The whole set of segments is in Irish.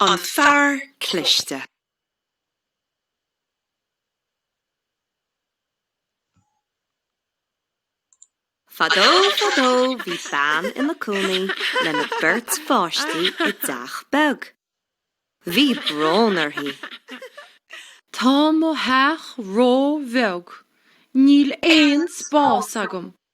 An Fear Cliste. Fadó, fadó, bhí bean ina cónaí lena beirt pháistí i dteach beag. Bhí brón uirthi. Tá mo theach ró-bheag. Níl aon spás agam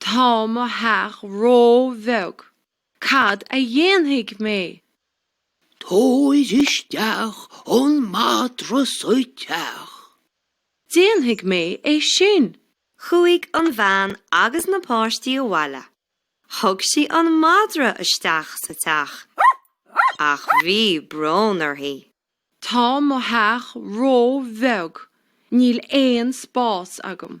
Tá mo theach ró-bheag. Cad a dhéanfaidh mé? Tabhair isteach an madra sa teach. Déanfaidh mé é sin. Chuaigh an bhean agus na páistí abhaile. Thug sí an madra isteach sa teach, ach bhí brón uirthi. Tá mo theach ró-bheag. Níl aon spás agam.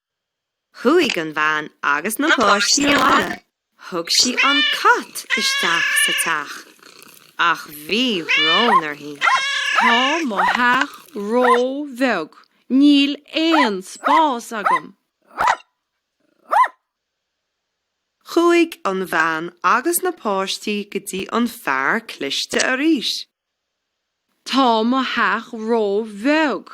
Chuaigh an bhean agus na páistí abhaile. Thug sí an cat isteach sa teach, ach bhí brón uirthi. Tá mo theach ró-bheag, níl aon spás agam! Chuaigh an bhean agus na páistí go dtí an fear cliste arís. Tá mo theach ró-bheag,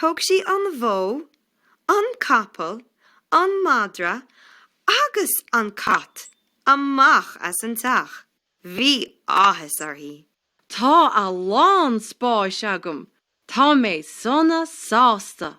Thug sí an bhó, an capall, an madra agus an cat amach as an teach. Bhí áthas uirthi. Tá a lán spáis agam. Tá mé sona sásta.